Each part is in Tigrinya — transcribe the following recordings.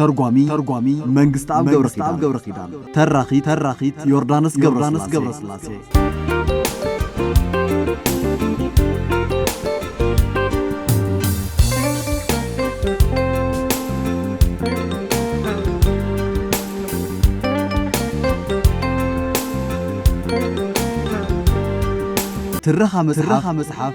ተርጓሚ ተርጓሚ መንግስትኣብ ገብረኪዳን ገብረኪዳን ተራኺ ተራኺት ዮርዳኖስ ገብረስላሴ ገብረስላሴ ትረኻ መጽሓፍ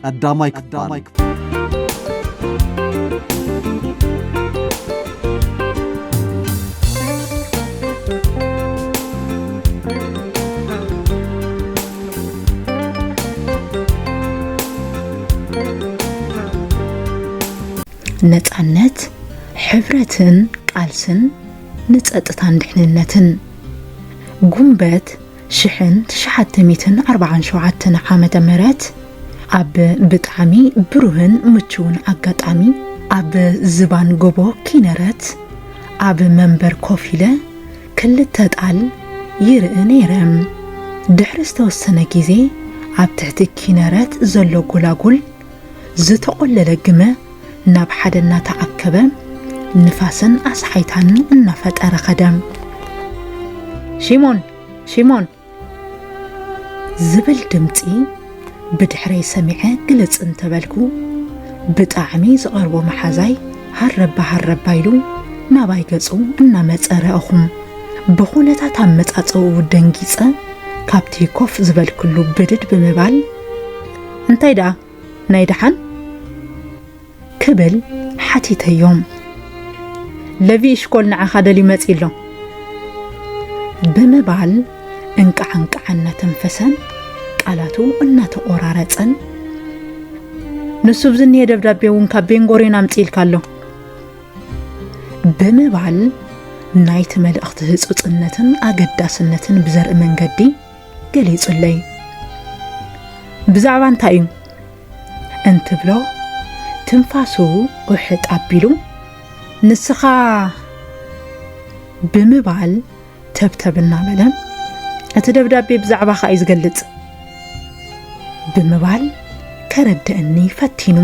ቀዳማይ ክፋል ነፃነት ሕብረትን ቃልስን ንፀጥታን ድሕንነትን ጉንበት ሽሕን ትሽዓተ ሚእትን ኣርብዓን ሸውዓተን ዓመተ ምህረት ኣብ ብጣዕሚ ብሩህን ምቹውን ኣጋጣሚ ኣብ ዝባን ጎቦ ኪነረት ኣብ መንበር ኮፍ ኢለ ክልተ ጣል ይርኢ ነይረ። ድሕሪ ዝተወሰነ ግዜ ኣብ ትሕቲ ኪነረት ዘሎ ጎላጉል ዝተቖለለ ግመ ናብ ሓደ እናተኣከበ ንፋስን ኣስሓይታን እናፈጠረ ኸደ። ሺሞን ሺሞን ዝብል ድምፂ ብድሕረይ ሰሚዐ ግልፅ እንተበልኩ ብጣዕሚ ዝቐርቦ መሓዛይ ሃረባ ሃረባ ኢሉ ናባይ ገጹ እናመፀ ረእኹም ብኹነታት ኣመፃፀኡ ደንጊፀ ካብቲ ኮፍ ዝበልክሉ ብድድ ብምባል እንታይ ደኣ ናይ ደሓን ክብል ሓቲተዮም። ለቪ እሽኮል ንዓኻ ደልዩ መጺ ኣሎ ብምባል እንቃዕ እንቃዕ እናተንፈሰን ቃላቱ እናተቆራረጸን ንሱ ብዝኒየ ደብዳቤ እውን ካብ ቤንጎሬን ኣምጽኢልካ ኣሎ ብምባል ናይቲ መልእኽቲ ህጹጽነትን ኣገዳስነትን ብዘርኢ መንገዲ ገሊጹለይ። ብዛዕባ እንታይ እዩ እንትብሎ ትንፋሱ ውሕጥ ኣቢሉ ንስኻ ብምባል ተብተብ እናበለ እቲ ደብዳቤ ብዛዕባኻ እዩ ዝገልጽ ብምባል ከረድእኒ ፈቲኑ።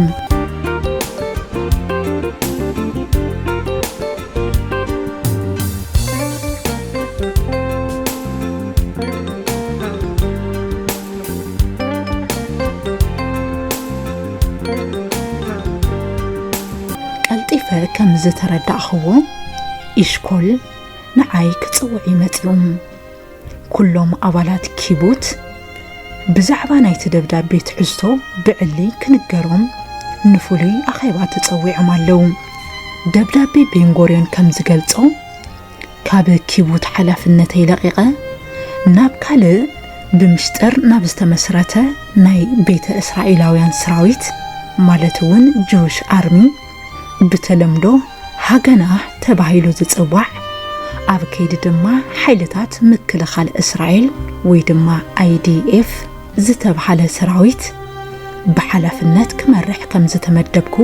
ቀልጢፈ ከም ዝተረዳእኽዎ ኢሽኮል ንዓይ ክጽውዕ እዩ መጺኡ። ኩሎም ኣባላት ኪቡት ብዛዕባ ናይቲ ደብዳቤ ትሕዝቶ ብዕሊ ክንገሮም ንፍሉይ ኣኼባ ተጸዊዖም ኣለዉ። ደብዳቤ ቤንጎርዮን ከም ዝገልጾ ካብ ኪቡት ሓላፍነተይ ለቒቐ ናብ ካልእ ብምስጢር ናብ ዝተመስረተ ናይ ቤተ እስራኤላውያን ሰራዊት ማለት እውን ጅውሽ ኣርሚ ብተለምዶ ሃገና ተባሂሉ ዝጽዋዕ ኣብ ከይዲ ድማ ሓይልታት ምክልኻል እስራኤል ወይ ድማ IDF ዝተብሃለ ሰራዊት ብሓላፍነት ክመርሕ ከም ዝተመደብኩ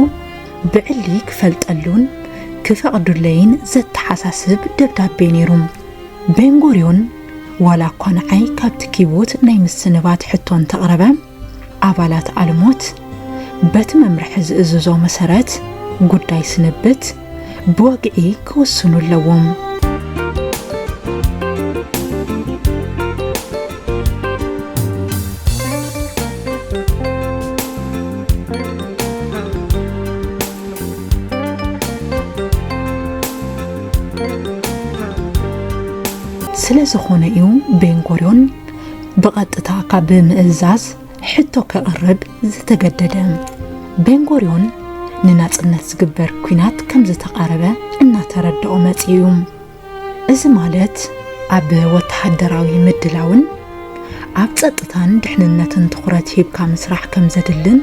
ብዕሊ ክፈልጠሉን ክፈቕዱለይን ዘተሓሳስብ ደብዳቤ ነይሩ። ቤንጎርዮን ዋላ እኳ ንዓይ ካብቲ ኪቦት ናይ ምስንባት ሕቶ እንተቕረበ፣ ኣባላት ኣልሞት በቲ መምርሒ ዝእዝዞ መሰረት ጉዳይ ስንብት ብወግዒ ክውስኑ ኣለዎም። ስለዝኾነ እዩ ቤንጎሪዮን ብቐጥታ ካብ ምእዛዝ ሕቶ ከቕርብ ዝተገደደ ቤንጎርዮን ንናጽነት ዝግበር ኩናት ከም ዝተቓረበ እናተረድኦ መጺኡ እዩ። እዚ ማለት ኣብ ወተሃደራዊ ምድላውን ኣብ ጸጥታን ድሕንነትን ትኹረት ሂብካ ምስራሕ ከም ዘድልን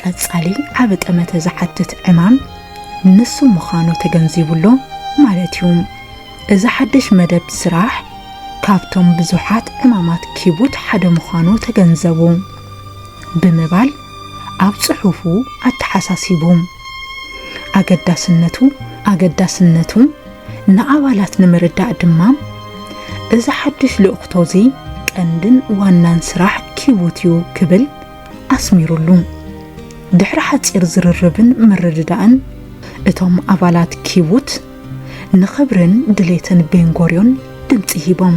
ቀጻሊ ዓቢ ጠመተ ዝሓትት ዕማም ንሱ ምዃኑ ተገንዚቡ ኣሎ ማለት እዩ። እዚ ሓድሽ መደብ ስራሕ ካብቶም ብዙሓት ዕማማት ኪቡት ሓደ ምዃኑ ተገንዘቡ ብምባል ኣብ ጽሑፉ ኣተሓሳሲቡ። ኣገዳስነቱ ኣገዳስነቱ ንኣባላት ንምርዳእ ድማ እዚ ሓድሽ ልእኽቶ እዚ ቀንድን ዋናን ስራሕ ኪቡት እዩ ክብል ኣስሚሩሉ። ድሕሪ ሓጺር ዝርርብን ምርድዳእን እቶም ኣባላት ኪቡት ንኽብርን ድሌትን ቤንጎርዮን ድምጺ ሂቦም።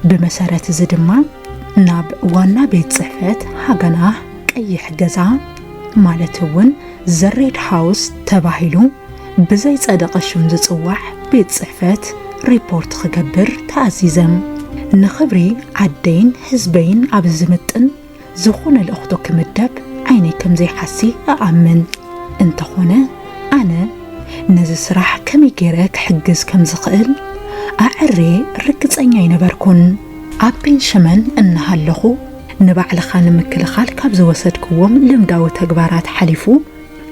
ብመሰረት እዚ ድማ ናብ ዋና ቤት ጽሕፈት ሃገናህ ቀይሕ ገዛ፣ ማለት እውን ዘሬድ ሃውስ ተባሂሉ ብዘይጸደቐ ሽም ዝጽዋዕ ቤት ጽሕፈት ሪፖርት ክገብር ተኣዚዘም ንኽብሪ ዓደይን ህዝበይን ኣብ ዝምጥን ዝኾነ ልእኽቶ ክምደብ ዓይነይ ከም ዘይሓሲ እኣምን እንተኾነ ኣነ ነዚ ስራሕ ከመይ ገይረ ክሕግዝ ከም ዝኽእል ኣዐሬ ርግጸኛ ኣይነበርኩን። ኣብ ቤንሸመን እናሃለኹ ንባዕልኻ ንምክልኻል ካብ ዝወሰድክዎም ልምዳዊ ተግባራት ሓሊፉ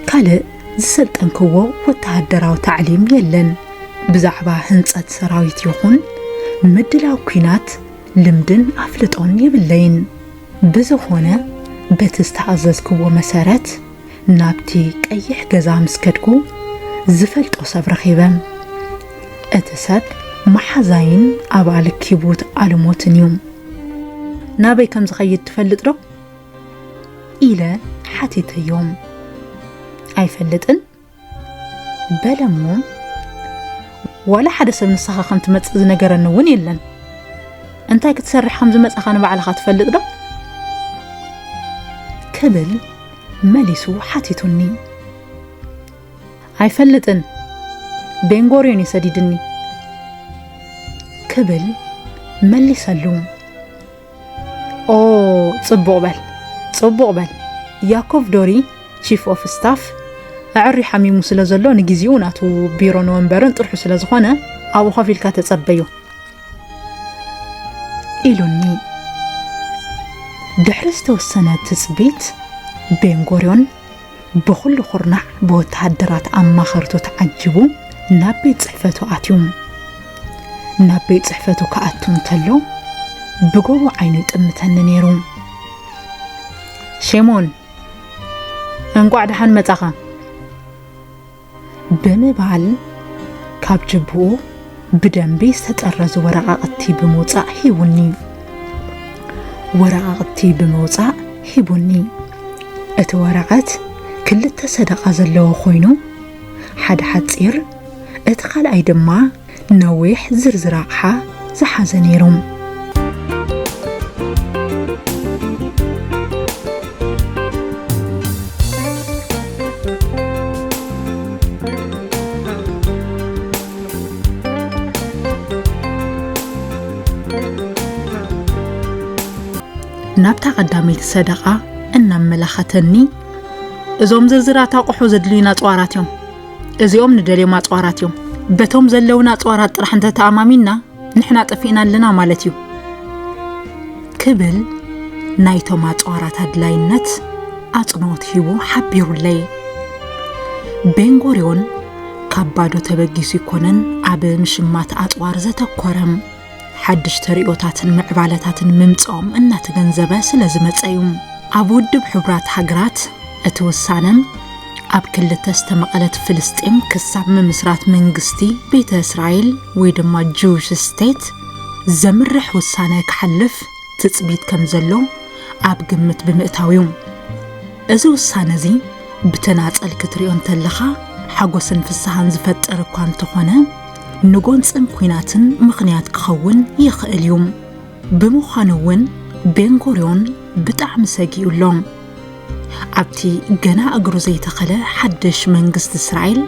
ካልእ ዝሰልጠንክዎ ወተሃደራዊ ታዕሊም የለን። ብዛዕባ ህንጸት ሰራዊት ይኹን ምድላው ኲናት ልምድን ኣፍልጦን የብለይን። ብዝኾነ በቲ ዝተኣዘዝክዎ መሰረት ናብቲ ቀይሕ ገዛ ምስ ከድኩ ዝፈልጦ ሰብ ረኺበ። እቲ ሰብ መሓዛይን ኣባል ኪቡት ኣልሞትን እዩ። ናበይ ከም ዝኸይድ ትፈልጥ ዶ ኢለ ሓቲተዮም ኣይፈልጥን በለሞ ዋላ ሓደ ሰብ ንስኻ ከም ትመፅእ ዝነገረኒ እውን የለን እንታይ ክትሰርሕ ከም ዝመፃኻ ንባዕልኻ ትፈልጥ ዶ ክብል መሊሱ ሓቲቱኒ ኣይፈልጥን ቤንጎርዮን እዩ ሰዲድኒ ክብል መሊሰሉ። ኦ ጽቡቕ በል ጽቡቕ በል ያኮቭ ዶሪ ቺፍ ኦፍ ስታፍ ኣዕሪ ሓሚሙ ስለ ዘሎ ንግዜኡ ናቱ ቢሮን ወንበርን ጥርሑ ስለ ዝኾነ ኣብኡ ኮፍ ኢልካ ተጸበዩ ኢሉኒ ድሕሪ ዝተወሰነ ትጽቢት ቤንጎርዮን ብኹሉ ኩርናዕ ብወተሃደራት ኣማኸርቱ ተዓጂቡ ናብ ቤት ጽሕፈቱ ኣትዩ። ናብ ቤት ጽሕፈቱ ክኣቱ እንተሎ ብጎቦ ዓይኑ ይጥምተኒ ነይሩ። ሼሞን እንቋዕ ደሓን መጻኻ። ብምባል ካብ ጅብኡ ብደንቢ ዝተጠረዙ ወረቓቕቲ ብምውፃእ ሂቡኒ። ወረቓቕቲ ብምውፃእ ሂቡኒ። እቲ ወረቐት ክልተ ሰደቓ ዘለዎ ኮይኑ፣ ሓደ ሓፂር፣ እቲ ካልኣይ ድማ ነዊሕ ዝርዝር ኣቕሓ ዝሓዘ ነይሩ። ናብታ ቀዳመይቲ ሰደቓ እናመላኸተኒ እዞም ዝርዝራት ኣቑሑ ዘድልዩና ጸዋራት እዮም እዚኦም ንደልዮም ኣጽዋራት እዮም። በቶም ዘለውን ኣጽዋራት ጥራሕ እንተተኣማሚንና ንሕና ጠፊእና ኣለና ማለት እዩ ክብል ናይቶም ኣጽዋራት ኣድላይነት ኣጽንኦት ሂቡ ሓቢሩለይ ቤንጎርዮን ካብ ባዶ ተበጊሱ ይኮነን ኣብ ምሽማት ኣጽዋር ዘተኮረም ሓድሽ ተርእዮታትን ምዕባለታትን ምምጽኦም እናተገንዘበ ስለ ዝመጸ እዩ። ኣብ ውድብ ሕቡራት ሃገራት እቲ ውሳነ ኣብ ክልተ ዝተመቐለት ፍልስጤም ክሳብ ምምስራት መንግስቲ ቤተ እስራኤል ወይ ድማ ጂውሽ ስቴት ዘምርሕ ውሳነ ክሓልፍ ትጽቢት ከም ዘሎ ኣብ ግምት ብምእታው እዩ። እዚ ውሳነ እዚ ብተናጸል ክትሪኦ እንተለኻ ሓጎስን ፍስሃን ዝፈጥር እኳ እንተኾነ ንጎንፅን ኲናትን ምኽንያት ክኸውን ይኽእል እዩ። ብምዃኑ እውን ቤንጎርዮን ብጣዕሚ ሰጊኡ ኣሎ። ኣብቲ ገና እግሩ ዘይተኸለ ሓድሽ መንግስቲ እስራኤል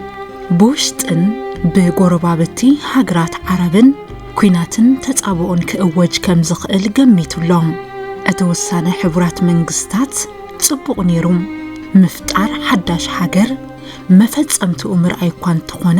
ብውሽጥን ብጎረባብቲ ሃገራት ዓረብን ኲናትን ተፃብኦን ክእወጅ ከም ዝኽእል ገሚቱ ኣሎ። እቲ ውሳነ ሕቡራት መንግስታት ፅቡቕ ነይሩ፣ ምፍጣር ሓዳሽ ሃገር መፈፀምትኡ ምርኣይ እኳ እንተኾነ፣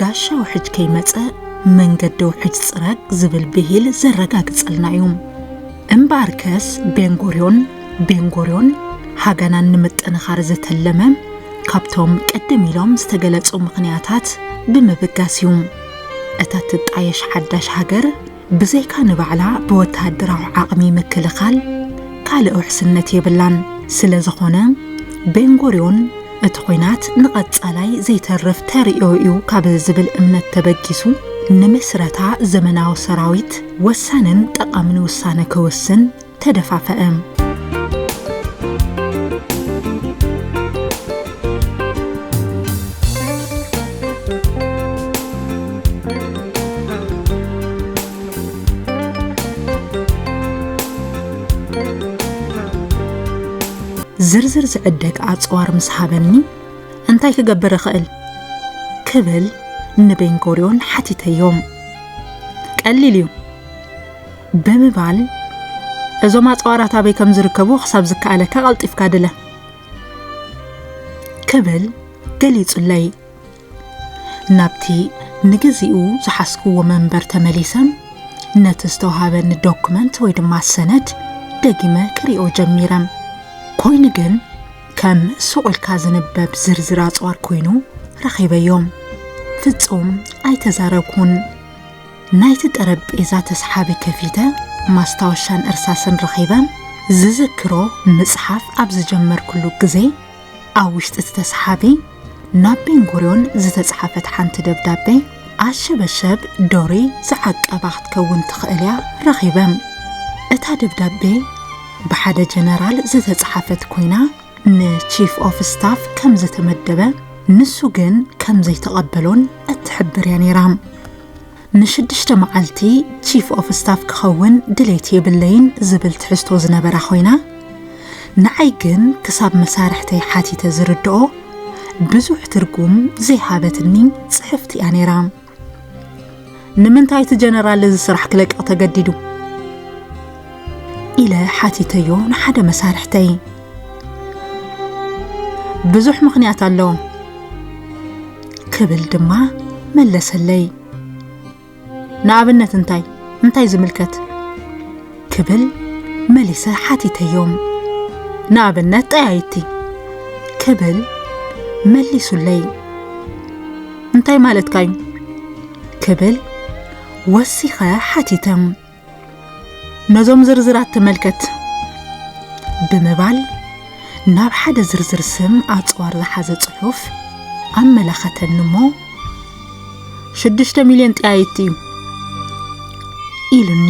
ጋሻ ውሕጅ ከይመጸ መንገዲ ውሕጅ ጽረግ ዝብል ብሂል ዘረጋግጸልና እዩ። እምበኣርከስ ቤንጎርዮን ቤንጎርዮን ሃገናን ንምጥንኻር ዘተለመ ካብቶም ቅድም ኢሎም ዝተገለጹ ምኽንያታት ብምብጋስ እዩ። እታ ትጣየሽ ሓዳሽ ሃገር ብዘይካ ንባዕላ ብወተሃደራዊ ዓቕሚ ምክልኻል ካልእ ውሕስነት የብላን። ስለዝኾነ ቤንጎርዮን እቲ ኹናት ንቐፃላይ ዘይተርፍ ተርእዮ እዩ ካብ ዝብል እምነት ተበጊሱ ንምስረታ ዘመናዊ ሰራዊት ወሳንን ጠቓምን ውሳነ ክውስን ተደፋፈእም። ዝርዝር ዝዕደግ ኣጽዋር ምስ ሃበኒ እንታይ ክገብር እኽእል ክብል ንቤንጎርዮን ሓቲተዮም ቀሊል እዩ ብምባል እዞም ኣጽዋራት ኣበይ ከም ዝርከቡ ክሳብ ዝከኣለካ ቀልጢፍካ ድለ ክብል ገሊጹለይ ናብቲ ንግዚኡ ዝሓስክዎ መንበር ተመሊሰም ነቲ ዝተውሃበኒ ዶክመንት ወይ ድማ ሰነድ ደጊመ ክሪኦ ጀሚረ ኮይኑ ግን ከም ሱቑልካ ዝንበብ ዝርዝር ኣጽዋር ኮይኑ ረኺበዮም ፍጹም ኣይተዛረብኩን ናይቲ ጠረጴዛ ተስሓቢ ከፊተ ማስታወሻን እርሳስን ረኺበ ዝዝክሮ ምጽሓፍ ኣብ ዝጀመርኩሉ ግዜ ኣብ ውሽጢ እቲ ተስሓቢ ናብ ቤንጉርዮን ዝተጽሓፈት ሓንቲ ደብዳቤ ኣሸበሸብ ዶሪ ዝዓቀባ ክትከውን ትኽእል እያ ረኺበ እታ ደብዳቤ ብሓደ ጀነራል ዝተጽሓፈት ኮይና ንቺፍ ኦፍ ስታፍ ከም ዝተመደበ ንሱ ግን ከም ዘይተቐበሎን እትሕብር እያ ነይራ ንሽዱሽተ መዓልቲ ቺፍ ኦፍ ስታፍ ክኸውን ድሌት የብለይን ዝብል ትሕዝቶ ዝነበራ ኮይና ንዓይ ግን ክሳብ መሳርሕተይ ሓቲተ ዝርድኦ ብዙሕ ትርጉም ዘይሃበትኒ ጽሕፍቲ እያ ነይራ። ንምንታይ እቲ ጀነራል እዚ ስራሕ ክለቅቕ ተገዲዱ ኢለ ሓቲተዮ ንሓደ መሳርሕተይ ብዙሕ ምኽንያት ኣሎ ክብል ድማ መለሰለይ ንኣብነት እንታይ እንታይ ዝምልከት ክብል መሊሰ ሓቲተዮም ንኣብነት ጠያይቲ ክብል መሊሱለይ እንታይ ማለትካ እዩ ክብል ወሲኸ ሓቲተም ነዞም ዝርዝራት ተመልከት ብምባል ናብ ሓደ ዝርዝር ስም ኣፅዋር ዝሓዘ ፅሑፍ ኣመላኸተኒ እሞ ሽዱሽተ ሚልዮን ጠያይቲ እዩ ኢሉኒ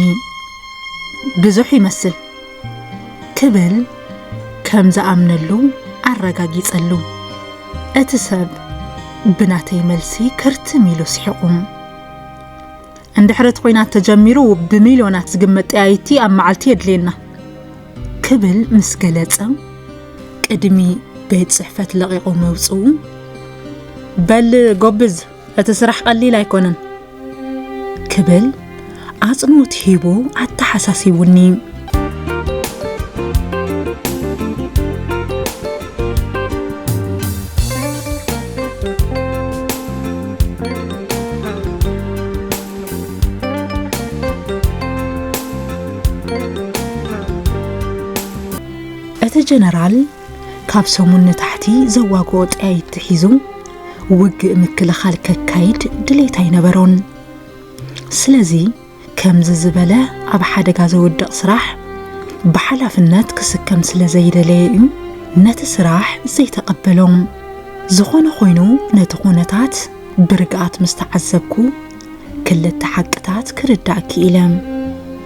ብዙሕ ይመስል ክብል ከም ዝኣምነሉ ኣረጋጊጸሉ እቲ ሰብ ብናተይ መልሲ ክርትም ኢሉ ስሒቑም እንድሕር እቲ ኹናት ተጀሚሩ ብሚልዮናት ዝግመት ጠያይቲ ኣብ መዓልቲ የድልየና ክብል ምስ ገለጸ ቅድሚ ቤት ጽሕፈት ለቒቑ መውጽኡ በል ጎብዝ እቲ ስራሕ ቀሊል ኣይኮነን ክብል ኣጽንኦት ሂቡ ኣተሓሳሲቡኒ እቲ ጀነራል ካብ ሰሙን ንታሕቲ ዘዋግኦ ጠያይት ሒዙ ውግእ ምክልኻል ከካይድ ድሌት ኣይነበሮን። ስለዚ ከምዚ ዝበለ ኣብ ሓደጋ ዘውድቕ ስራሕ ብሓላፍነት ክስከም ስለ ዘይደለየ እዩ ነቲ ስራሕ ዘይተቐበሎ። ዝኾነ ኾይኑ ነቲ ኩነታት ብርግኣት ምስ ተዓዘብኩ ክልተ ሓቅታት ክርዳእ ክኢለ።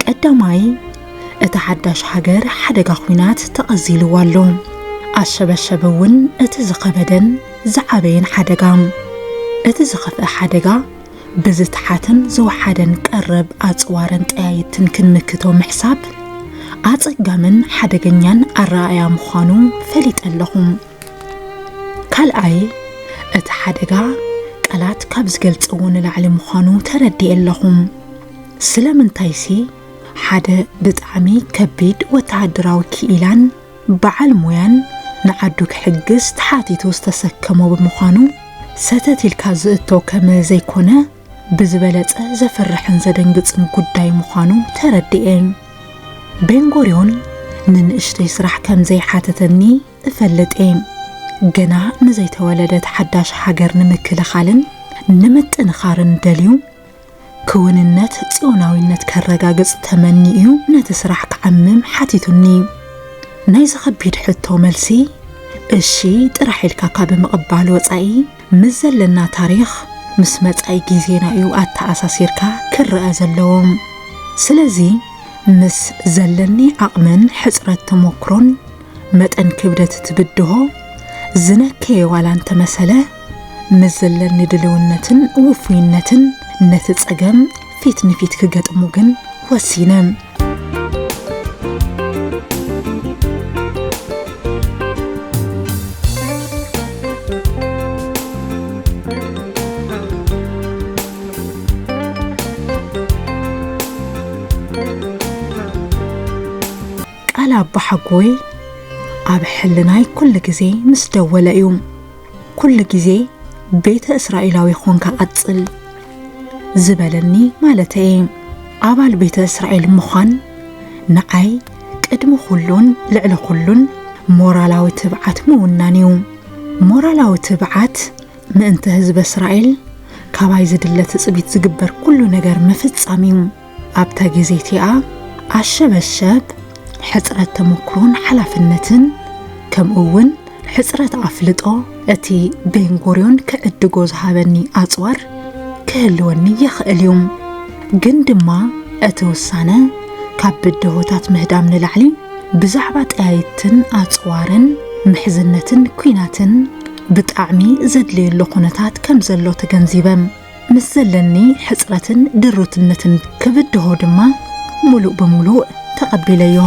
ቀዳማይ እታ ሓዳሽ ሃገር ሓደጋ ኹናት ተቐዚልዋ ኣሎ። ኣሸበሸበ እውን እቲ ዝኸበደን ዝዓበየን ሓደጋ እቲ ዝኸፍአ ሓደጋ ብዝተሓተን ዝወሓደን ቀረብ ኣጽዋርን ጠያይትን ክንምክቶ ምሕሳብ፣ ኣጸጋምን ሓደገኛን ኣረኣእያ ምዃኑ ፈሊጠ ኣለኹ። ካልኣይ፣ እቲ ሓደጋ ቃላት ካብ ዝገልጸዎ ንላዕሊ ምዃኑ ተረዲኤ ኣለኹ። ስለምንታይሲ፣ ሓደ ብጣዕሚ ከቢድ ወተሃደራዊ ክኢላን፣ በዓል ሞያን ንዓዱ ክሕግዝ ተሓቲቱ ዝተሰከሞ ብምዃኑ ሰተት ኢልካ ዝእቶ ከም ዘይኮነ ብዝበለፀ ዘፍርሕን ዘደንግፅን ጉዳይ ምዃኑ ተረዲኤ። ቤንጎርዮን ንንእሽተይ ስራሕ ከም ዘይሓተተኒ እፈልጥ እየ። ገና ንዘይተወለደት ሓዳሽ ሃገር ንምክልኻልን ንምጥንኻርን ደልዩ ክውንነት ጽዮናዊነት ከረጋግጽ ተመኒኡ'ዩ ነቲ ስራሕ ክዓምም ሓቲቱኒ። ናይዚ ከቢድ ሕቶ መልሲ እሺ ጥራሕ ኢልካ ካብ ምቕባል ወጻኢ ምስ ዘለና ታሪኽ ምስ መጻኢ ግዜና'ዩ ኣተኣሳሲርካ ክረኣ ዘለዎ። ስለዚ ምስ ዘለኒ ዓቕምን ሕጽረት ተሞክሮን መጠን ክብደት እቲ ብድሆ ዝነከየ ዋላ እንተመሰለ፣ ምስ ዘለኒ ድልውነትን ውፉይነትን ነቲ ጸገም ፊት ንፊት ክገጥሙ ግን ወሲነ። ቃል ኣቦሓጎይ ኣብ ሕልናይ ኩሉ ግዜ ምስ ደወለ እዩ። ኩሉ ግዜ ቤተ እስራኤላዊ ኾንካ ቀጽል ዝበለኒ ማለተይ እየ ኣባል ቤተ እስራኤል ምዃን ንዓይ ቅድሚ ኩሉን ልዕሊ ኩሉን ሞራላዊ ትብዓት ምውናን እዩ ሞራላዊ ትብዓት ምእንተ ህዝበ እስራኤል ካባይ ዝድለ ትጽቢት ዝግበር ኩሉ ነገር ምፍጻም እዩ ኣብታ ግዜ እቲኣ ኣሸበሸብ ሕጽረት ተመክሮን ሓላፍነትን ከምኡ እውን ሕጽረት ኣፍልጦ እቲ ቤንጎርዮን ክዕድጎ ዝሃበኒ ኣጽዋር ክህልወኒ ይኽእል እዩ ግን ድማ እቲ ውሳነ ካብ ብድሆታት ምህዳም ንላዕሊ ብዛዕባ ጠያይትን ኣጽዋርን ምሕዝነትን ኲናትን ብጣዕሚ ዘድልየሉ ኩነታት ከም ዘሎ ተገንዚበ ምስ ዘለኒ ሕጽረትን ድሩትነትን ክብድሆ ድማ ምሉእ ብምሉእ ተቐቢለዮ።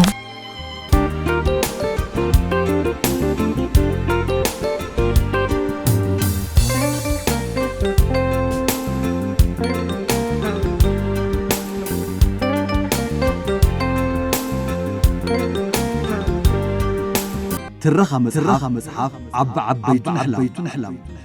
ትረኻ መጽሓፍ ዓቢ ዓበይቱ ንሕላም!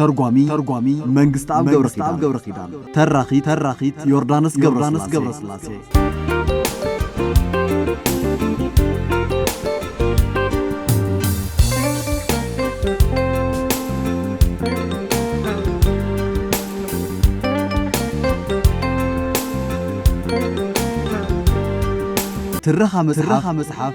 ተርጓሚ ተርጓሚ መንግስትኣብ ገብረኪዳን ገብረኪዳን ተራኺ ተራኺት ዮርዳኖስ ገብረስላሴ ገብረስላሴ ትረኻ መጽሓፍ